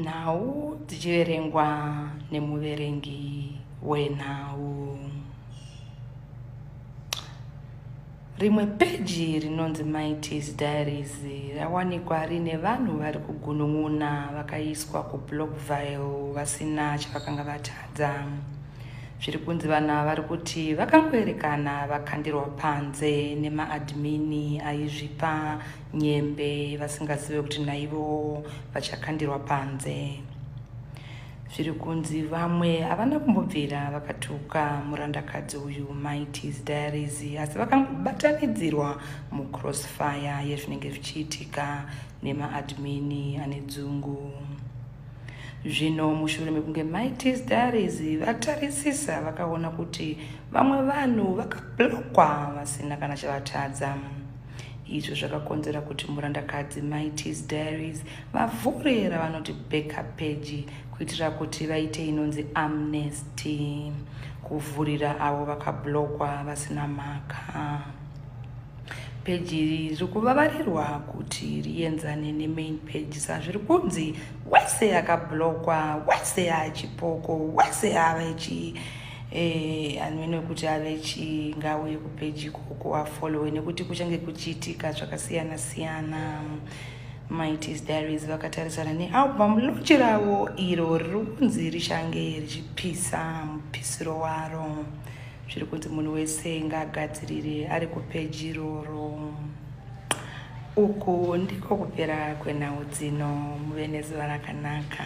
nhau dzichiverengwa nemuverengi wenhau rimwe peji rinonzi mighties diaries rawanikwa rine vanhu vari kugunun'una vakaiswa kublockvile vasina chavakanga vatadza zviri kunzi vanhu ava vari kuti vakangoerekana vakandirwa panze nemaadmini aizvipa nyembe vasingazive kuti naivo vachakandirwa panze zviri kunzi vamwe havana kumbobvira vakatuka murandakadzi uyu maitis diaries asi vakangobatanidzirwa mucrossfire yezvinenge zvichiitika nemaadmini ane dzungu zvino mushure mekunge maitis diaries vatarisisa vakaona kuti vamwe vanhu vakablokwa vasina kana chavatadza izvo zvakakonzera kuti murandakadzi mai tis diaries vavhure ravanoti backup peji kuitira kuti vaite inonzi amnesty kuvhurira avo vakablokwa vasina mhaka peji iri riri kuvavarirwa kuti rienzane nemain peji sazviri kunzi wese akablokwa wese achipoko wese ava ichii Eh, amene kuti ave chingauye kupeji ikoko afollowe nekuti kuchange kuchiitika zvakasiyana siyana mighties diaries vakatarisana nealbum lunch ravo iro riri kunzi richange richipisa mupisiro waro zviri kunzi munhu wese ngaagadzirire ari kupeji iroro uku ndiko kupera kwenhau dzino muve nezuva rakanaka